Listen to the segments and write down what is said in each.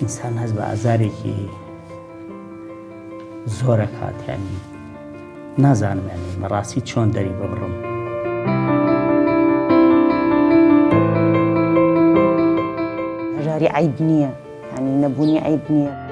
ئینسان هەست بە ئازارێکی زۆرە کاتیانی نازانم یانی بەڕاستی چۆن دەری ببڕم. ژاری عیب نییە ینی نەبوونی عیب نییە.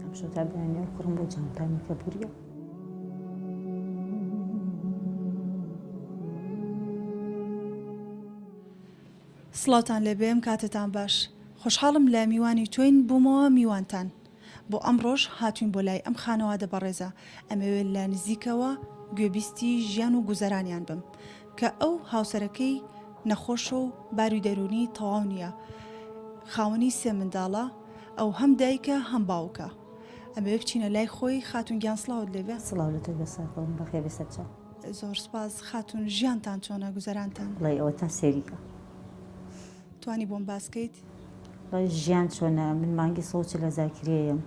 ئەمشەو تا بەیانیان کوڕم بۆ جانتامی کە بوریە سڵاوتان لێبێ ئەم کاتەتان باش خۆشحاڵم لە میوانی تۆین بوومەوە میوانتان بۆ ئەمڕۆش هاتوین بۆ لای ئەم خانەوادە بەڕێزە ئەمەوێت لە نزیکەوە گوێبیستی ژیان و گوزەرانیان بم کە ئەو هاوسەرەکەی نەخۆشە و باروی دەرونی تەواو نییە خاوەنی سێ منداڵە ئەو هەم دایکە هەم باوکە ئەمەوێ بچینە لای خۆی خاتون گیان سلااوت لێبێ سلااو لە تۆی بەسەر خۆم بەخێ بێسەر چاو زۆر سپاس خاتون ژیانتان چۆنە گوزەرانتان بڵێ ئەوە تا سێریکە توانی بۆم باسکەیت ژیان چۆنە من مانگی سۆچ لە زاکرێەم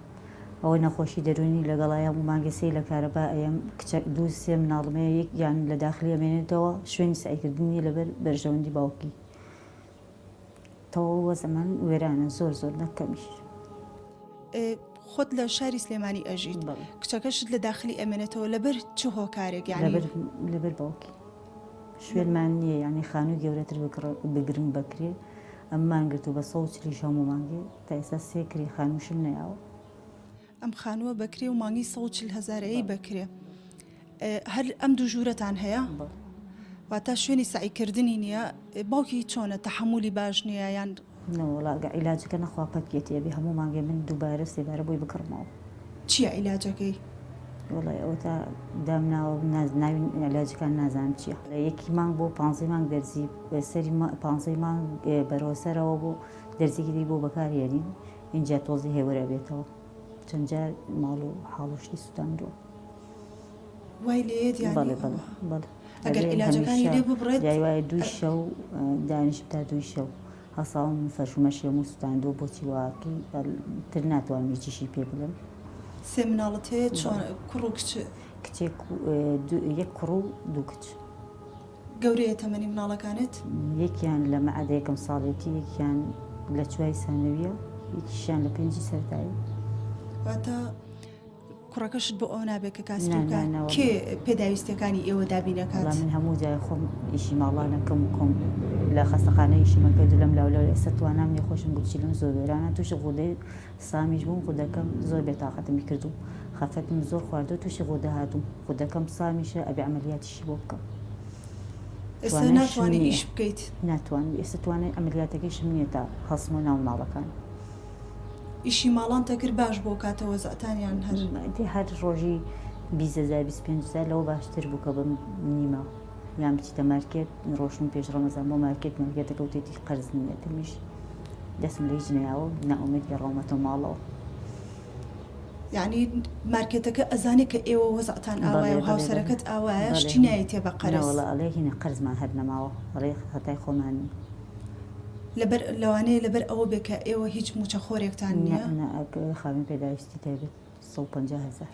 ئەوە نەخۆشی دەرونی لەگەڵایە و مانگەسی لە کارەبا ئەم کچە دوو سێ مناڵمەیە یەکیان لە داخلی ئەمێنێتەوە شوێنی سعیکردنی لەبەر بەرژەوەندی باوکی تەواو وەزعمان وێرانە زۆر زۆر نەک کەمیش. خۆت لە شاری سلێمانی ئەژیت کچەکەشت لە داخلی ئەمێنێتەوە لەبەر چ هۆکارێک لەبەر باوکی شوێنمان نییە ینی خانوو گەورەتر بگرم بکرێ ئەممان گرت و بە سەوچلیش هەموو مانگێ تا ئێستا سێکری خانووشم نەیاوە ئەم خانووە بەکرێ و مانگی 140 هزارەیەی بەکرێ هەر ئەم دوو ژوورەتان هەیە واتە شوێنی سعیکردنی نییە باوکی چۆنە تەحملی باش نییە یان نەوەڵاگە عیلاجەکە نەخوا پەکیەتی ئەبێ هەموو مانگێ من دووبارە سێبارە بۆی بکڕمەوە چییە عیلاجەکەی؟ وڵی ئەو تا دامناوە نازناوی علاجەکان نازان چییە لە یەکی مانگ بۆ پ مانگ دەرزی سەری پ مانگ بەرەوەسەرەوە بۆ دەرزیگیری بۆ بەکارێنین ئینجا تۆزێ هێورە بێتەوە چەند جار ماڵ و حاڵ و شتی سوتاندووە وای لێت یانی بەڵێ بەڵێ ئەوە. بەڵێ ئەگەر ئەبێ عیلاجەکانی هەمیشە لێ ببڕێت، جای وایە دووی ئە- شەو ئە، دانیشم تا دووی شەو هەساوم فەرشومەشی هەموو سوتاندووە بۆچی واقی ئەل تر ناتوانم هیچیشی پێ بڵێم سێ مناڵت هەیە چۆن کوڕ و کچ کچێک و، ئە، دوو یەک کوڕ و دوو کچ. گەورەیە تەمەنی مناڵەکانت؟ یەکیان لە مەعەدە یەکەم ساڵێتی یەکیان لە چوای سانەویە یەکیشیان لە پێنجی سەرتایی واتە کوڕەکەشت بۆ ئەو نابێت کە کاسکان کێ پێداویستەکانی ئێوە دابینەکە من هەموو جای خۆم ئیشی ماڵانەکەم کۆم لە خەستەخانە ئیشیمە کرد لەم لاولە ئێستا توانام نیە خۆشم گوچی لەم زۆر وێرانە تووشی غودەی سامیش بووم خودەکەم زۆر بێتاقەتمی کردو خەفەتم زۆر خواردو تووشی غودە هاتوو خودەکەم سامیشە ئەبێ عملیاتی چی بۆ بکەم ئێستا ناتوانی ئیش بکەیت ناتوانی ئێستا توانای ئەمەلیاتەکەیشم نییە تا هەڵسمەوە ناو ماڵەکان ئیشی ماڵان تەکرد باش بۆ کاتە وەزعتانیان هەر دی هەر ڕۆژی بیزەزای 25 زای لەوە باشتر بوو کە بم نیمە یان بچیتە مارکێت ڕۆشن پێش ڕەمەزان بۆ مارکێت مارکێتەکە و تێتی قەرز نییە دەمیش دەستم لە هیچ نەیاوە ناومێت گەڕاومەتە ماڵەوە یەعنی مارکێتەکە ئەزانێ کە ئێوە وەزعتان ئاوایە و هاوسەرەکەت ئاوایە شتی نایەتێ بە قەرز. نەوەڵا ئەڵێ هینە قەرزمان هەر نەماوە ئەڵێ خەتای خۆمانە. لەبەر لەوانەیە لەبەر ئەوە بێ کە ئێوە هیچ موچەخۆرێکتان نیە. نە نە ئەک خاوەن پێداویستی تایبەت سەد و پەنجا هەزار.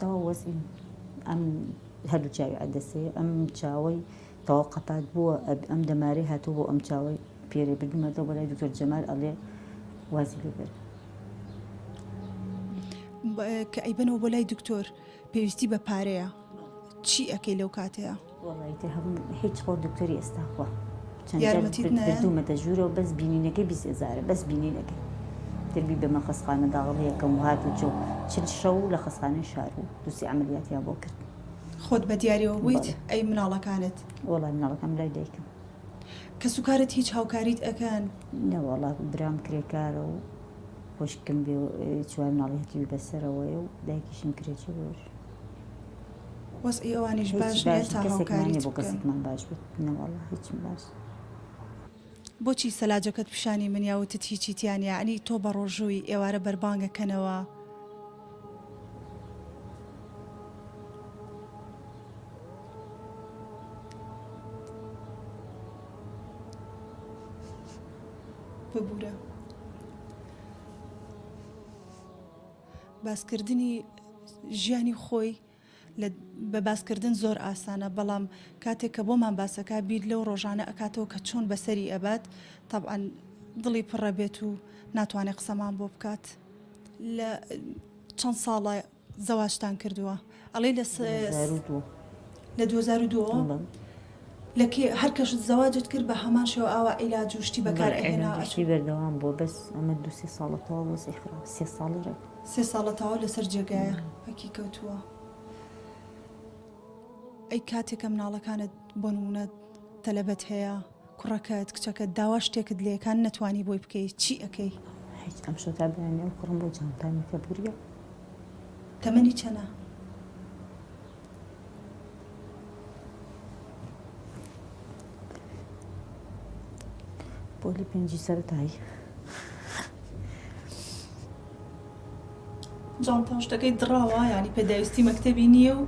تەواو وەزعی ئەم هەردوو چاوی عەدەسەیە، ئەم چاوەی تەواو قەپات بووە، ئەم دەمارەی هاتووە بۆ ئەم چاوەی پێرێ بردوومەتەوە بۆ لای دکتۆر جەمال ئەڵێ وازی لێ بێنە. کە ئەیبەنەوە بۆ لای دکتۆر پێویستی بە پارەیە چی ئەکەی لەو کاتەیە؟ خۆت بە دیاریەوە بوویت ئەی مناڵەکانت؟ کەس و کارت هیچ هاوکاریت ئەکەن؟ وەزعی ئەوانیش باش نیە تا هاوکاریت بکەن. بۆچی سەلاجەکەت پیشانی منیا وتت هیچی تیا نیە ئەنی تۆ بەڕۆژووی ئێوارە بەربانگە کەنەوە. باسکردنی ژیانی خۆی بە باسکردن زۆر ئاسانە بەڵام کاتێک کە بۆمان باسەکە بیر لەو ڕۆژانە ئەکاتەوە کە چۆن بەسەری ئەبات تەبعاان دڵی پڕە بێت و ناتوانێت قسەمان بۆ بکات لە چەند ساڵە زەواجتان کردووە ئەڵێ لە سە دوو هەزار و دوو لە دوو هەزار و دوو ەوە بەڵێ لە کێ هەر کەشت زەواجت کرد بە هەمان شێوە ئاوا عیلاج و شتی بەکار بەڵێ ئەهێنا عیلاج و ئەچوو شتی بەردەوام بووە بەس ئەمە دوو سێ ساڵە تەواو بووە سەری خراپ سێ ساڵی ڕێک سێ ساڵە تەواو لەسەر جێگایە بەڵێ. پەکی کەوتووە ئەی کاتێ کە مناڵەکانت بۆ نموونە تەلەبەت هەیە کوڕەکەت کچەکەت داوا شتێکت لێ کان نەتوانی بۆی بکەی چی ئەکەی؟ هیچ ئەم شەو تا بەیانی ئەو کوڕم بۆ جانتامی کە بوریە. تەمەنی چەنە؟ پۆلی پێنجی سەرەتایی. جانتا و شتەکەی دڕاوە یانی پێداویستی مەکتەبی نیە و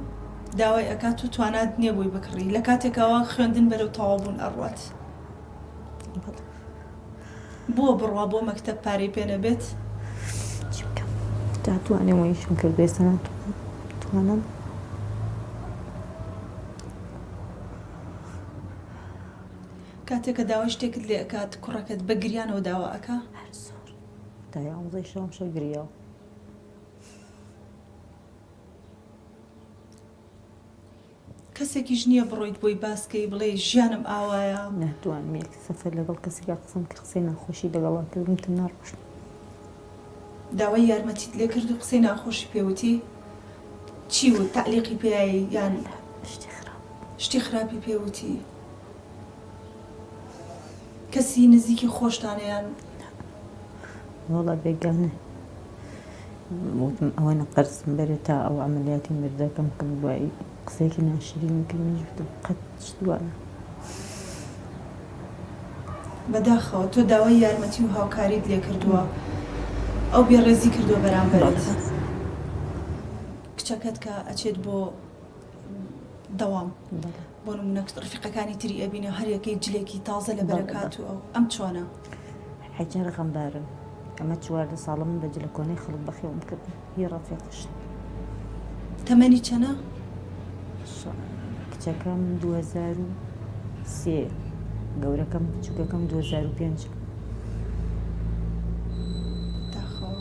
داوای ئەکات و توانات نیە بۆی بکڕی لە کاتێکاوە خوێندن بەرەو تەواوبوون ئەڕوات بۆ بڕوا بۆ مەکتەب پارەی پێ نەبێت تا توانێ وەیشم کرد بێسەنا توانم کاتێکە داوای شتێکت لێ ئەکات کوڕەکەت بە گریانەوە داوا ئەکا دای ئاموزای شەوم شەو گریاو کەسێکیش نییە بڕۆیت بۆی باسکەی بڵێ ژیانم ئاوایە نەتوان مێک سەفەر لەگەڵ کەسێکا قسەم کە قسەی ناخۆشی لەگەڵا کردم تم ناڕۆشت داوای یارمەتیت لێ کرد و قسەی ناخۆشی پێوتی چی و تعلیقی پێایی یان شتی خراپی پێوتی کەسی نزیکی خۆشتان یان نا؟ وەڵا بێگانە وتم ئەوەنە قەرزم بەرێ تا ئەو عەمەلیاتی مردەکەم بکەم دوایی قسەیەکی ناشرینی کرد منیش وتم قەت شت وا نا. بەداخەوە تۆ داوای یارمەتی و هاوکاریت لێ کردووە ئەو بێ ڕێزی کردووە بەرامبەرت کچەکەت کە ئەچێت بۆ دەوام. بۆ نمونە ڕفیقەکانی تری ئەبینێ و هەریەکەی جلێکی تازە لە بەرەکات و ئەو ئەم چۆنە؟ حەجار غەمبارم ئەمە چواردە ساڵە من بە جلە کۆنەی خەڵک بەخێوم کرد هی ڕەفیقش تەمەنی چەنە؟ کچەکەم 2023 گەورەکەم بچووکەکەم 2005 داخەوە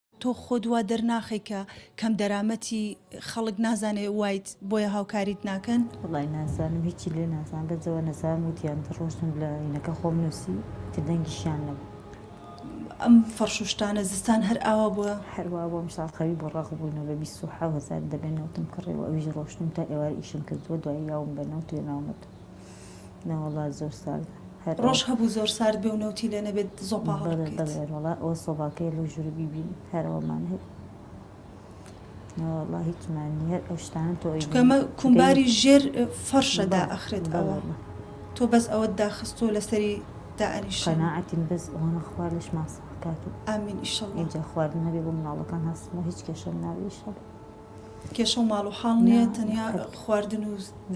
تۆ خۆت وا دەرناخەی کە کەم دەرامەتی خەڵک نازانێ وایت بۆیە هاوکاریت ناکەن؟ وەڵای نازانم هیچی لێ نازانم بەس ئەوە نەزان وتیان کە ڕۆشتم لە ئینەکە خۆم نووسی تر دەنگیشیان نەبوو. ئەم فەڕش و شتانە زستان هەر ئاوا بووە؟ هەر وا بووە ئەمساڵ خەوی بۆ ڕەق بووینەوە بە بیست و حەوت هەزار دەبێ نەوتم کڕیوە ئەویش ڕۆشتم تا ئێوارە ئیشم کردووە دوایی یاوم بە نەوت وێناومەتەوە. ناوەڵا زۆر ساردە هەر ڕۆژ هەبوو زۆر سارد بێ و نەوتی لێ نەبێت زۆپا هەڵبکەیت بەڵێ ئەوە سۆباکەی لە ژوور بیبین هەر ئەوەمان هەیە ناوەڵا هیچمان نیە ئەو شتانە تۆ ئەمە کومباری ژێر فەرشەدا ئەخرێت بەڵێ تۆ بەس ئەوە داخستۆ لەسەری دائنیش شەناعەتیم بەس ئەوانە خوار لەش ماسەکات و ئامین ئیشەڵ ئینجا خواردنەبێ بۆ مناڵەکان هەستمە هیچ کێشەم ناویشەڵ کێشەو ماڵ و حاڵ نیە تەنیا خواردن و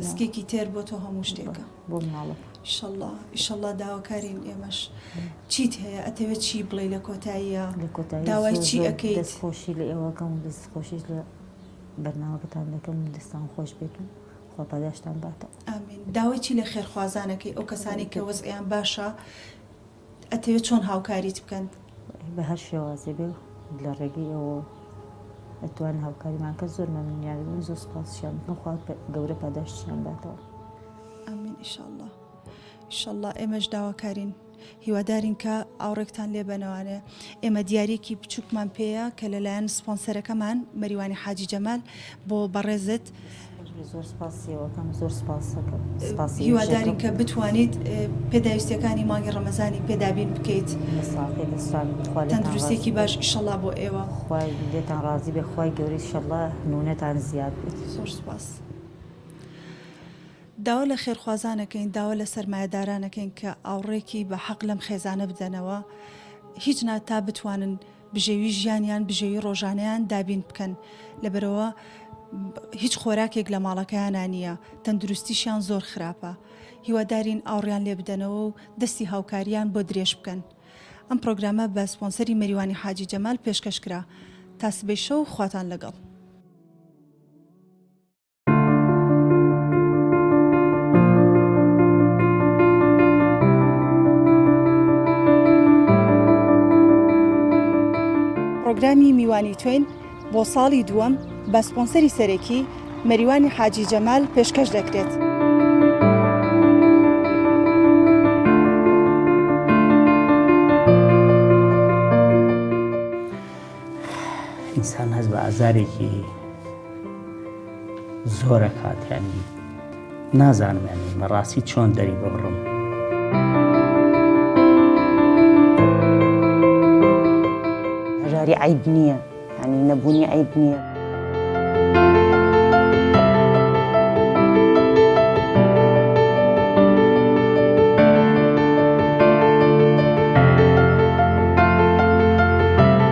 سکێکی تێر بۆ تۆ هەموو شتێکە ئیشەڵا ئیشەڵا داواکارین ئێمەش چیت هەیە ئەتەوێت چی بڵێ لە کۆتاییە داوای چی ئەەکەیت خۆشی لە ئێوەکەم و دەست خۆشیش لە بەرناوەکەتان دەکەم دەستان خۆش بێت و خۆپاداشتان باتە ئامین داوای چی لە خێرخوازانەکەی ئەو کەسانی کە وەزعیان باشە ئەتەوێت چۆن هاوکاریت بکەن؟ بە هەر شێوازێ بێ لە ڕێگەی ئێوەوە ئەتوانن هاوکاریمان کە زۆر مەمنونیان دەبین زۆر سوپاسیشیان دەکەم خوا گەورە پاداشتیان باتەوە. آمین ان شاء اللە ان شاء اللە ئێمەش داواکارین هیوادارین کە ئاوڕێکتان لێ بەنەوانێ ئێمە دیارەکی بچووکمان پێەیە کە لەلایەن سپۆنسەرەکەمان مەریوانی حاجی جەمال بۆ بەڕێزت هیوادارین کە بتوانیت پێداویستیەکانی مانگی ڕەمەزانی پێ دابین بکەیت تەندروستێکی باش ئیشەڵا بۆ ئێوە لێتان ڕازی بێ خی گەوری شەڵە نونەتان زیاد زۆر سپاس. داوا لە خێرخوازانەکەین داوا لە سەرمایەدارانەکەین کە ئاوڕێکی بە حەق لەم خێزانە بدەنەوە هیچ ناتا بتوانن بژێوی ژیانیان بژێوی ڕۆژانەیان دابین بکەن لەبەرەوە هیچ خۆراکێک لە ماڵەکەیانە نییە تەندروستیشیان زۆر خراپە هیوادارین ئاوڕیان لێ بدەنەوە و دەستی هاوکاریان بۆ درێژ بکەن ئەم پرۆگرامە بە سپۆنسەری مەریوانی حاجی جەمال پێشکەش کرا تا سبەی شەو خواتان لەگەڵ پڕۆگرامی میوانی تۆین بۆ ساڵی دووەم بە سپۆنسەری سەرەکی مەریوانی حاجی جەمال پێشکەش دەکرێت. ئینسان هەست بە ئازارێکی زۆرە کاتیانی نازانم یانی بەڕاستی چۆن دەری ببڕم. هەژاری عیب نییە ینی نەبوونی عیب نییە.